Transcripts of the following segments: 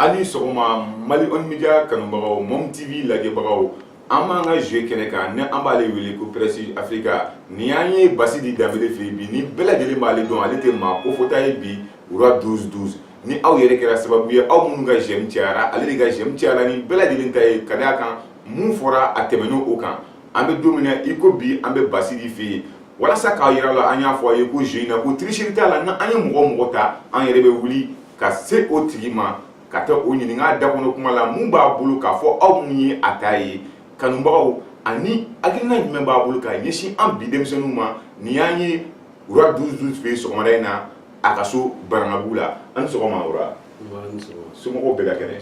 Aw ni sɔgɔma mali online media kanubagaw mom tv lajɛbagaw an b'an ka jeu kɛnɛ kan ni an b'ale wele ko presse africa nin y'an ye basidi danbele fɛ yen bi ni bɛɛ lajɛlen b'ale dɔn ale tɛ maa kofɔta ye bi roi 12 12 ni aw yɛrɛ kɛra sababu ye aw minnu ka j'aime cayara ale de ka j'aime cayara ni bɛɛ lajɛlen ta ye ka da a kan Min fɔra a tɛmɛna o kan an bɛ don min na i ko bi an bɛ basidi fɛ yen walasa k'a jira la an y'a fɔ a ye ko jeu in na ko tricherie t'a la nka an ye mɔgɔ mɔgɔ ta an yɛrɛ bɛ wuli ka se o tigi ma ka taa o ɲininka da kɔnɔ kuma la min b'a bolo k'a fɔ aw minnu ye a ta ye kanubagaw ani hakilina jumɛn b'a bolo ka ɲɛsin an bi denmisɛnninw ma nin y'an ye roi 12 12 fɛ yen sɔgɔmada in na a ka so baramau la aw ni sɔgɔma somɔgɔw bɛɛ ka kɛnɛ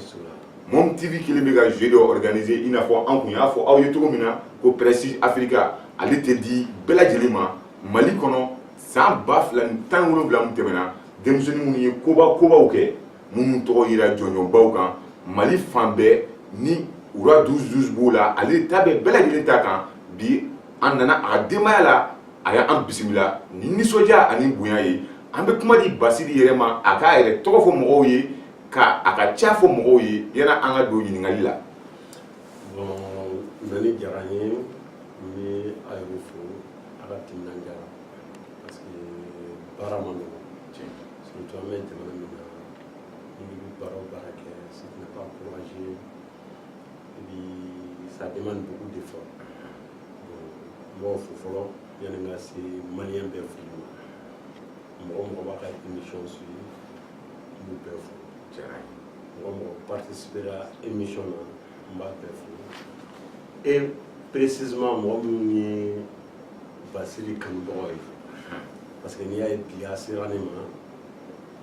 mom tv kɛlen bɛ ka jeu dɔ organiser i n'a fɔ an kun y'a fɔ aw ye cogo min na ko presse africa ale tɛ di bɛɛ lajɛlen ma mali kɔnɔ san ba fila ni tan ni wolonwula min tɛmɛna denmisɛnnin minnu ye koba kobaw kɛ minnu tɔgɔ yira jɔnjɔnbaw kan mali fan bɛɛ ni roi 12 12 b'o la ale ta bɛ bɛɛ lajɛlen ta kan bi an nana a ka denbaya la a y'an bisimila ni nisɔndiya ani bonya ye an bɛ kuma di basidi yɛrɛ ma a k'a yɛrɛ tɔgɔ fɔ mɔgɔw ye ka a ka ca fɔ mɔgɔw ye yanni an ka don ɲininkali la bon a nani diyara n ye n bɛ a yɛrɛ fo a ka timinandiya la parce que baara ma nɔgɔ surtout an bɛ jamana min na n'i bɛ baara o baara kɛ si tu n'es pas courageux i bi ça demande beaucoup d'effort n b'o fo fɔlɔ yanni n ka se maliyɛn bɛɛ fo mɔgɔ mɔgɔ b'a ka émission suivi n b'u bɛɛ fo diyara n ye mɔgɔ mɔgɔ participera émission na n b'a bɛɛ fo et précisément mɔgɔ minnu ye basidi kanubagaw ye parce que n'i y'a ye bi a sera ne ma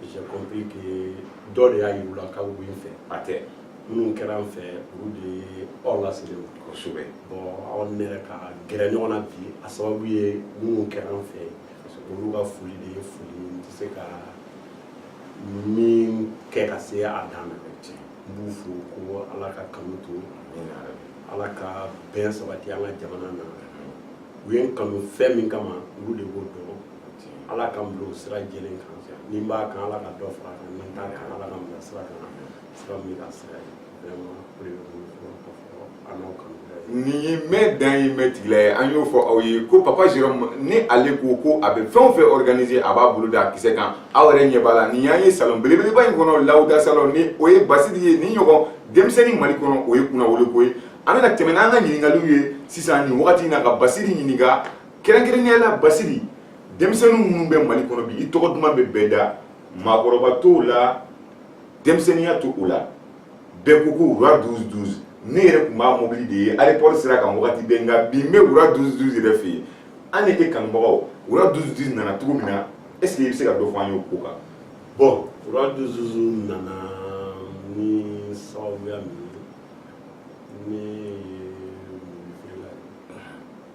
j'ai compris que dɔ de y'a yir'u la k'aw bɛ n fɛ a tɛ minnu kɛra n fɛ olu de ye aw laselen ye kosɛbɛ bon aw ni ne yɛrɛ ka gɛrɛ ɲɔgɔn na bi a sababu ye minnu kɛra n fɛ olu ka foli de ye foli n tɛ se ka min kɛ ka se a dan na n b'u fo ko ala ka kanu to ala ka bɛn sabati an ka jamana na u ye n kanu fɛn min kama olu de b'o dɔn ala k'a bila sira jɛlen kan n'i b'a kan ala ka dɔ fara a kan n'i t'a kan ala k'i bila sira kan sira min ka sira ye vraiment o de bɛ bolo fɔlɔ ka fɔ an n'aw kanu nin ye mɛ dan ye mɛ tigila ye an y'o fɔ aw ye ko papa jérôme ni ale ko ko a bɛ fɛn o fɛn organiser a b'a bolo da a kisɛ kan aw yɛrɛ ɲɛ b'a la nin y'an ye salon belebeleba in kɔnɔ lawuda salon ni o ye basidi ye nin ɲɔgɔn denmisɛnnin mali kɔnɔ o ye kunnawolo ko ye an bɛna tɛmɛ n'an ka ɲininkaliw ye sisan nin wagati in na ka basidi ɲininka kɛrɛnkɛrɛnnenya la basidi denmisɛnnin minnu bɛ mali kɔnɔ bi i tɔgɔ duman bɛ bɛɛ da maakɔrɔba t'o la denmisɛnninya t'o la bɛɛ ko ko roi 12 12 ne yɛrɛ tun b'a mobili de ye aéroport sira kan wagati bɛɛ nka bi n bɛ roi 12 12 yɛrɛ fɛ yen an ni e kanubagaw roi 12 12 nana cogo min na est ce que i bɛ se ka dɔ fɔ an ye o ko kan bon roi 12 12 nana ni sababuya min ye ne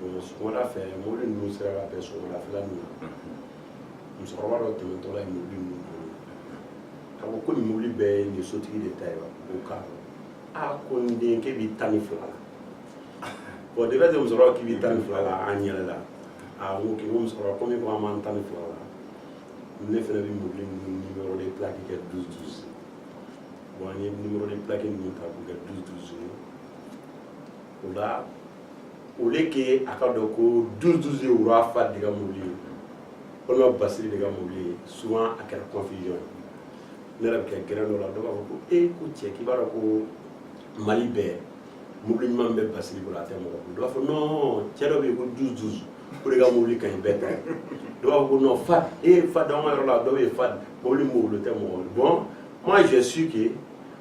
bon sɔgɔmada fɛ mobili ninnu sera ka bɛn sɔgɔmadafɛla ninnu na musokɔrɔba dɔ tɛmɛtɔla ye mobili ninnu bolo k'a fɔ ko nin mobili bɛɛ ye nin sotigi de ta ye wa ko k'a a ko n den k'e b'i tan ni fila la bon de bɛ se musokɔrɔba k'i b'i tan ni fila la an yɛlɛla a ko k'i ko musokɔrɔba komi ko an b'an tan ni fila la ne fana bɛ mobili ninnu numéro de plaque kɛ douze douze bon an ye numéro de plaque ninnu ta k'u kɛ douze douze ye o la ok a ka dɔn ko douze douze ye roi fa de ka mobili ye walima basidi de ka mobili ye souvent a kɛra confusion ye ne yɛrɛ bɛ kɛ grin dɔ la dɔw b'a fɔ ko e ko cɛ k'i b'a dɔn ko mali bɛɛ mobili ɲuman bɛ basidi bolo a tɛ mɔgɔ dɔw b'a fɔ non cɛ dɔ bɛ yen ko douze douze o de ka mobili ka ɲi bɛɛ ta dɔw b'a fɔ ko non fa e fa dama yɔrɔ la dɔw ye fa mobili mobili tɛ mɔgɔ bon moi je suis ke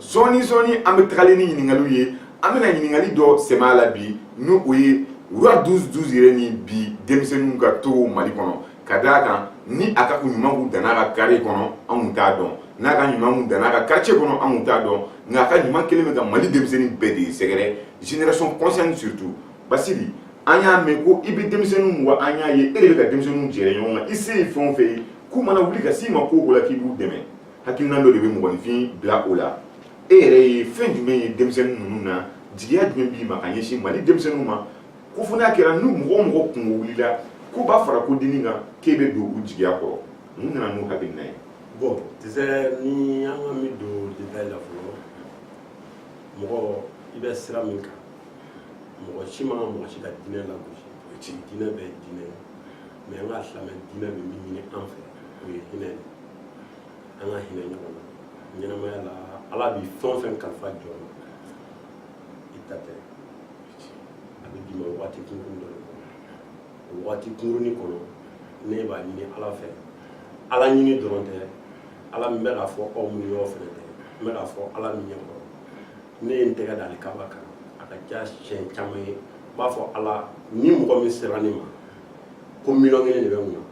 sɔɔni sɔɔni an bɛ tagali ni ɲininkaliw ye an bɛna ɲininkali dɔ sɛmɛ a la bi ni o ye roi douze douze yɛrɛ ni bi denmisɛnninw ka togo mali kɔnɔ ka d'a kan ni a ka ɲuman kun danna a ka kare kɔnɔ an kun t'a dɔn n'a ka ɲuman kun danna a ka quartier kɔnɔ an kun t'a dɔn nka a ka ɲuman kɛlen bɛ ka mali denmisɛnnin bɛɛ de sɛgɛrɛ génération consciente surtout basidi an y'a mɛn ko i bɛ denmisɛnninw wa an y'a ye e de bɛ ka denmisɛnninw jɛrɛ ɲɔgɔn kan i se ye fɛn o fɛn ye k'u mana wuli ka s'i ma ko o ko la k'i b'u dɛmɛ hakilina dɔ de bɛ mɔgɔninfin bila o la e yɛrɛ ye fɛn jumɛn ye denmisɛnnin ninnu na jigiya jumɛn b'i ma ka ɲɛsin mali denmisɛnninw ma ko fo n'a kɛra ni mɔgɔ o mɔgɔ kunko wulila ko b'a fara ko dini kan k'e bɛ don u jigiya kɔrɔ mun nana n'o hakilina ye bon tu sais ni an ka mi don détail la fɔlɔ mɔgɔ i bɛ sira min kan mɔgɔ si ma ka mɔgɔ si ka diinɛ lagosi diinɛ bɛɛ ye diinɛ ye mais an ka silamɛ diinɛ bɛ min ɲini an fɛ o ye hinɛ de an ka hinɛ ɲɔgɔn na ɲɛnamaya la ala bɛ fɛn o fɛn kalifa jɔn ma i ta tɛ a bɛ d'i ma waati kunkurun dɔ de kɔnɔ o waati kunkurunin kɔnɔ ne b'a ɲini ala fɛ ala ɲini dɔrɔn tɛ ala min bɛ k'a fɔ aw minnu yɔrɔ fɛnɛ tɛ n bɛ k'a fɔ ala min ɲɛ kɔrɔ ne ye n tɛgɛ da alikaba kan a ka ca siɲɛ caman ye n b'a fɔ ala ni mɔgɔ min sera ne ma ko miliyɔn kelen de bɛ n kun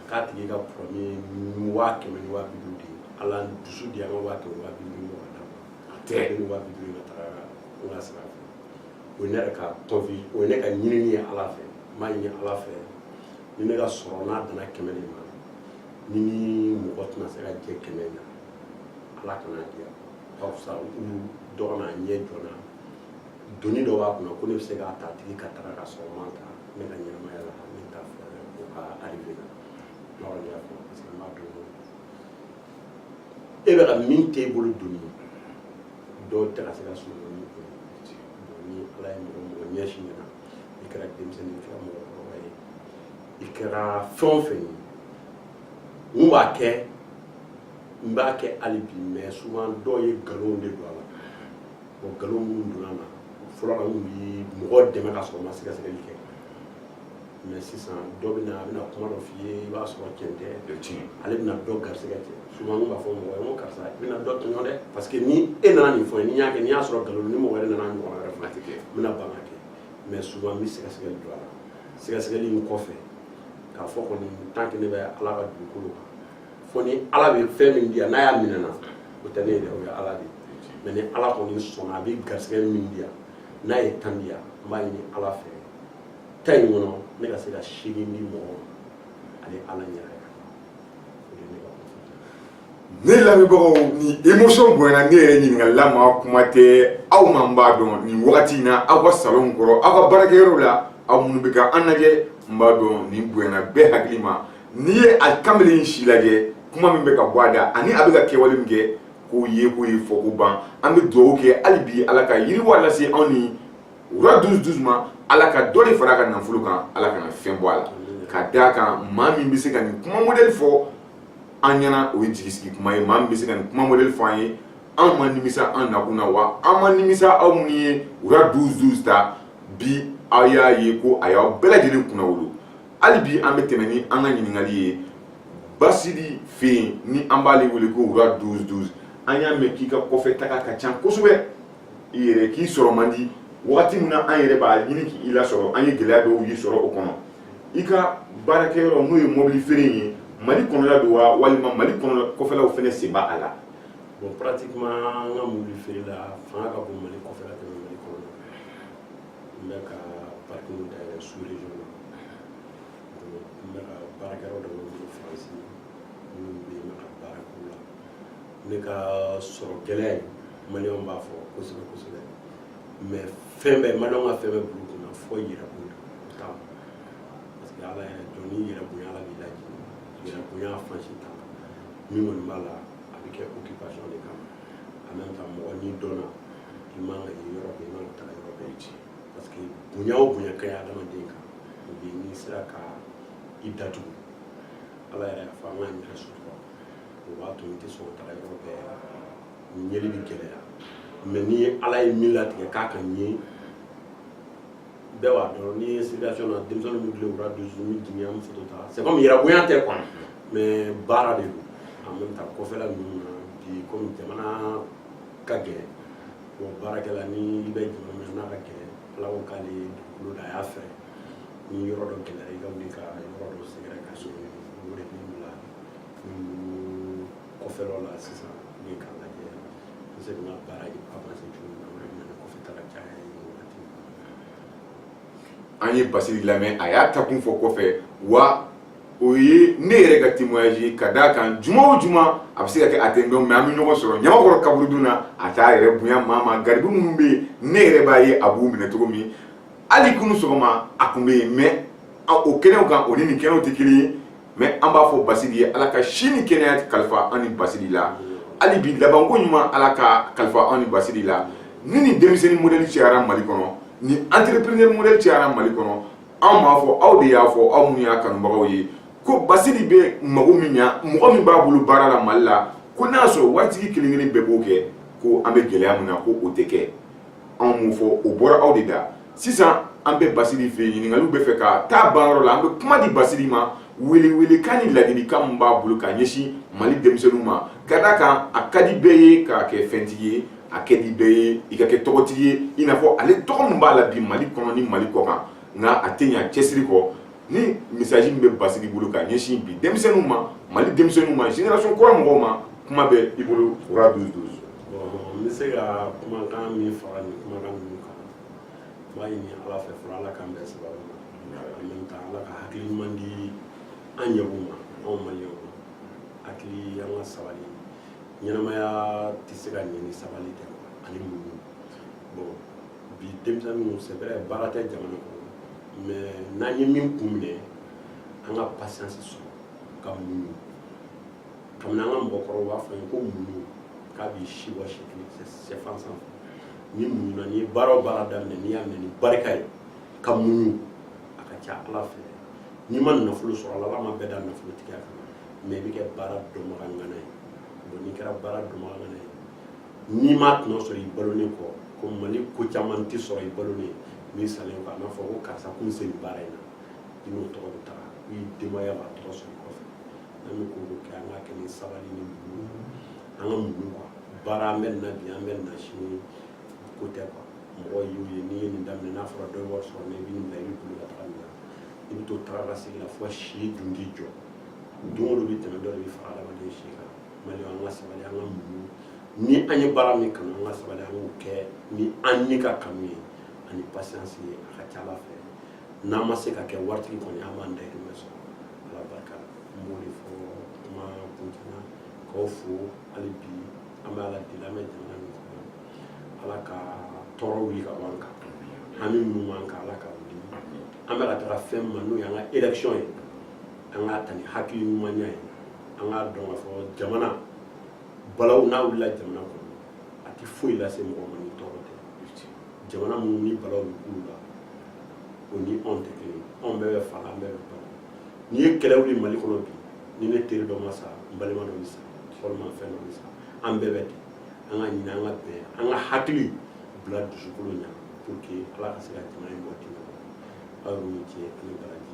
k'a tigi ka problème waa kɛmɛ ni waa bi duuru de ye ala dusu di yan n ka waa kɛmɛ waa bi duuru ɲɔgɔn d'a ma a tɛ ni waa bi duuru in ka taga n ka sira fɛ o ye ne yɛrɛ ka tɔnfi o ye ne ka ɲinini ye ala fɛ n b'a ɲini ala fɛ ni ne ka sɔrɔ n'a danna kɛmɛ de ma ni mɔgɔ tɛna se ka jɛ kɛmɛ na ala kan'a di yan a ka fisa u dɔgɔna ɲɛ jɔna doni dɔ b'a kunna ko ne bɛ se k'a ta a tigi ka taga ka sɔrɔ n m'a ta ne ka ɲɛnamaya la ne t'a fɛ o ka arrivé na ne kɔni y'a fɔ parce que n b'a dɔn e bɛ ka min t'e bolo doni ye dɔw tɛ ka se ka sunɔgɔ ni o ye bon ni ala ye mɔgɔ o mɔgɔ ɲɛsin ne ma i kɛra denmisɛnnin i kɛra mɔgɔkɔrɔba ye i kɛra fɛn o fɛn ye mun b'a kɛ n b'a kɛ hali bi mais souvent dɔw ye nkalonw de don a la o nkalon minnu donna na fɔlɔ la n tun bɛ mɔgɔ dɛmɛ ka sɔrɔ n ma sɛgɛsɛgɛli kɛ mais sisan dɔ bɛ na a bɛna kuma dɔ f'i ye i b'a sɔrɔ cɛn tɛ ale bɛna dɔ garisɛgɛ cɛn souvent n b'a fɔ mɔgɔ ye n ko karisa i bɛna dɔ tɔɲɔ dɛ parce que ni e nana nin fɔ n ye n y'a kɛ n y'a sɔrɔ nkalon ni mɔgɔ wɛrɛ nana ɲɔgɔn wɛrɛ fana tɛ kɛ n bɛna ban k'a kɛ mais souvent n bɛ sɛgɛsɛgɛli don a la sɛgɛsɛgɛli in kɔfɛ k'a fɔ kɔni tant que ne bɛ ala ka dugukolo kan fo ni ala bɛ fɛn min di yan n'a y'a minɛ n na o tɛ ne ye dɛ o ye ala de ye mais ni ala kɔni sɔnna a bɛ garisɛgɛ min di yan n'a ye tan di yan n b'a ɲini ala fɛ tan in kɔnɔ ne ka se ka seegin di mɔgɔ ma ani ala ɲɛna ne lamɛnbagaw nin émotion bonyana ne yɛrɛ ɲininkala ma kuma tɛ aw ma n b'a dɔn nin wagati in na aw ka salon kɔnɔ aw ka baarakɛyɔrɔ la aw minnu bɛ ka an lajɛ n b'a dɔn nin bonyana bɛɛ hakili ma n'i ye a kamalen in si lajɛ kuma min bɛ ka bɔ a da ani a bɛ ka kɛwale min kɛ k'o ye k'o ye fɔ ko ban an bɛ dugawu kɛ hali bi ala ka yiriwa lase anw ni wura dusu dusu ma ala ka dɔ de fara a ka nafolo kan ala kana fɛn bɔ a la ka d'a kan maa min bɛ se ka nin kuma modɛli fɔ an ɲɛna o ye jigisigi kuma ye maa min bɛ se ka nin kuma modɛli fɔ an ye an ma nimisa an nakun na wa an ma nimisa aw minnu ye wura dusu dusu ta bi aw y'a ye ko a y'aw bɛɛ lajɛlen kunnawolo hali bi an bɛ tɛmɛ ni an ka ɲininkali ye basidi fɛ yen ni an b'ale wele ko roi douze douze an y'a mɛn k'i ka kɔfɛ taga ka ca kosɛbɛ i yɛrɛ k'i sɔrɔ man di wagati min na an yɛrɛ b'a ɲini k'i lasɔrɔ an ye gɛlɛya dɔw y'i sɔrɔ o kɔnɔ i ka baarakɛyɔrɔ n'o ye mobili feere ye mali kɔnɔla don wa walima mali kɔfɛlaw fana sen b'a la bon pratiquement an ka mobili feere la fanga ka bon mali kɔfɛla tɛmɛ mali kɔnɔ n bɛ ka parkiw dayɛlɛ sous-région na n bɛ ka baarakɛyɔrɔ dɔ bɛ n bolo faransi minnu bɛ yen n bɛ ka baara k'u la ne ka sɔrɔ gɛlɛya in maliyɛnw b'a fɔ kosɛbɛ kosɛbɛ mais fɛn bɛɛ maliyɛnw ka fɛn bɛɛ bulu kunna fɔ yɛrɛ kun ta parce que ala yɛrɛ jɔ ni yɛrɛ bonya ala b'i lajɛ yɛrɛ bonya fansi ta min kɔni b'a la a bɛ kɛ occupation de kama en même temps mɔgɔ n'i dɔnna i man ka ye yɔrɔ bɛɛ i man ka taga yɔrɔ bɛɛ ci parce que bonya o bonya ka ɲi adamaden kan o bɛ n'i sera ka i datugu ala yɛrɛ y'a fɔ an k'an yɛrɛ sutura o b'a to i tɛ sɔn ka taga yɔrɔ bɛɛ yeli bɛ gɛlɛya mais ni ala ye min latigɛ k'a ka ɲɛ bɛɛ b'a dɔn ni situation na denmisɛnnin bɛ tile roi douze ni jigin an bɛ foto ta c'est comme yɛrɛ bonya tɛ quoi mais baara de don en même temps kɔfɛla ninnu na bi komi jamana ka gɛlɛn bon baarakɛla ni i bɛ jamana min na a ka gɛlɛn ala ko k'ale dugukolo da a y'a fɔ ni yɔrɔ dɔ gɛlɛya i ka wuli ka yɔrɔ dɔ sɛgɛrɛ ka so o de b'i bila kɔfɛlɔ la sisan ne k'a lajɛ n bɛ se ka n ka baara avanse cogo min na o de bɛ na ni kɔfɛ taga caya ye wagati an ye basidi lamɛn a y'a taakun fɔ kɔfɛ wa o ye ne yɛrɛ ka témoignage ye ka d'a kan juma o juma a bɛ se ka kɛ a tɛ n dɔn mais an bɛ ɲɔgɔn sɔrɔ ɲamakɔrɔ kaburudo la a t'a yɛrɛ bonya maa ma garibu minnu bɛ yen ne yɛrɛ b'a ye a b'u minɛ cogo min hali kunu sɔgɔma a tun bɛ yen mais o kɛnɛw kan o ni nin kɛnɛw tɛ kelen ye mais an b'a fɔ Basidi ye Ala ka si ni kɛnɛya kalifa an ni Basidi la hali bi labanko ɲuman Ala k'a kalifa an ni Basidi la ni nin denmisɛnnin modèle cayara Mali kɔnɔ nin entrepreneur modèle cayara Mali kɔnɔ anw b'a fɔ aw de y'a fɔ aw minnu y'a kanubagaw ye ko basidi bɛ mago min ɲa mɔgɔ min b'a bolo baara la mali la ko n'a y'a sɔrɔ waritigi kelen kelen bɛɛ b'o kɛ ko an bɛ gɛlɛya min na ko o tɛ kɛ anw m'o fɔ o bɔra aw de da sisan an bɛ basidi fɛ yen ɲininkaliw bɛ fɛ ka taa ban yɔrɔ la an bɛ kuma di basidi ma welewelekan ni ladilikan min b'a bolo ka ɲɛsin mali denmisɛnninw ma ka d'a kan a ka di bɛɛ ye k'a kɛ fɛntigi ye a ka di bɛɛ ye i ka kɛ tɔgɔtigi ye i n'a fɔ ale tɔgɔ min b'a la bi mali kɔnɔ ni mali kɔ kan nka a tɛ ɲa cɛsiri kɔ ni message min bɛ basidiki bolo ka ɲɛsin bi denmisɛnninw ma mali denmisɛnninw ma génération kura mɔgɔw ma kuma bɛ i bolo fura duuru duuru n bɛ se ka kumakan min fara nin kumakan ninnu kan n b'a ɲini ala fɛ fɔlɔ ala k'an bɛɛ sababu ma en même temps ala ka hakili ɲuman di an ɲɛw ma anw maliyɛnw ma hakili an ka sabali ɲɛnamaya tɛ se ka ɲɛ ni sabali tɛ ani muɲu bon bi denmisɛnninw c'est vrai baara tɛ jamana kɔnɔ mais n'an ye min kun minɛ an ka patience sɔrɔ ka muɲu kabini an ka mɔgɔkɔrɔw b'a fɔ ye ko muɲu k'a b'i si bɔ si kelen sɛfan sanfɛ n'i muɲuna n'i ye baara o baara daminɛ n'i y'a minɛ ni barika ye ka muɲu a ka ca ala fɛ n'i ma nafolo sɔrɔ ala ma bɛɛ da nafolo tigiya kan mais i bɛ kɛ baara dɔnbaga ŋana ye n'i kɛra baara dɔnbaga ŋana ye n'i m'a tɔnɔ sɔrɔ i balolen kɔ ko mali ko caman tɛ sɔrɔ i balolen ye mais i salen kɔ a n'a fɔ ko karisa kun se nin baara in na i n'o tɔgɔ bɛ taga i denbaya b'a tɔgɔ sɔrɔ kɔfɛ n'an bɛ ko o ko kɛ an k'a kɛ ni sabali ni muɲu an ka muɲu quoi baara an bɛ nin na bi an bɛ nin na sini ko tɛ quoi mɔgɔ y'u ye n'i ye nin daminɛ n'a fɔra dɔ ye wari sɔrɔ n'i bɛ nin bila i bɛ boli ka taga nin na i bɛ to taga ka segin la fo si dun t'i jɔ don o don bɛ tɛmɛ dɔ de bɛ fara adamaden si kan mali an ka sabali an ka muɲu ni an ye baara min kanu an ka sabali an k'o kɛ ni an ni ka kanu ye ani patience ye a ka ca ala fɛ n'an ma se ka kɛ waritigi kɔni an b'an dayirimɛ sɔrɔ ala barika la n b'o de fɔ kuma kuntigɛ k'aw fo hali bi an bɛ ala deli an bɛ jamana min kɔnɔ ala ka tɔɔrɔ wuli ka bɔ an kan hami minnu b'an kan ala ka wuli an bɛ ka taga fɛn min ma n'o y'an ka élection ye an k'a ta ni hakili ɲumanya ye an k'a dɔn k'a fɔ jamana balawu n'a wulila jamana kɔnɔ a tɛ foyi lase mɔgɔ ma ni tɔɔrɔ tɛ jamana minnu ni balawu bɛ k'u la o ni anw tɛ kelen ye anw bɛɛ bɛ fa la an bɛɛ bɛ ba la n'i ye kɛlɛ wuli mali kɔnɔ bi ni ne teri dɔ ma sa n balima dɔ bɛ sa walima fɛn dɔ bɛ sa an bɛɛ bɛ ten an ka ɲinɛ an ka bɛn an ka hakili bila dusukolo ɲɛ pour que ala ka se ka jamana in bɔ kɛlɛ kɔnɔ aw y'o ni ce aw ni baraji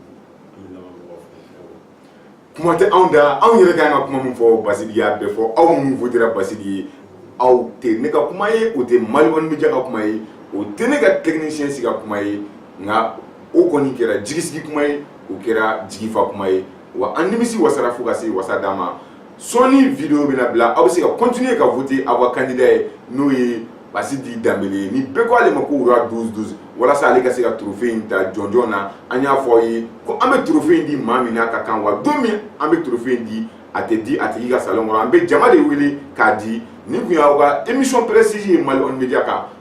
kuma tɛ anw da anw yɛrɛ ka kan ka kuma min fɔ basidiki y'a bɛɛ fɔ aw minnu votera basidiki ye aw tɛ ne ka kuma ye o tɛ mali kɔni bɛ jɛ ka kuma ye o tɛ ne ka technicien si ka kuma ye nka o kɔni kɛra jigisigi kuma ye o kɛra jigifa kuma ye wa an nimisi wasara fo ka se wasa dan ma sɔɔni video bɛna bila aw bɛ se ka continuer ka voter aw ka candidat ye n'o ye Basidi Dambele ye ni bɛɛ ko ale ma ko wura 12 12 walasa ale ka se ka trophée in ta jɔnjɔn na an y'a fɔ aw ye ko an bɛ trophée in di maa min n'a ka kan wa don min an bɛ trophée in di a tɛ di a tigi ka salon kɔnɔ an bɛ jama de wele k'a di nin tun y'aw ka émission précise ye Mali One Media kan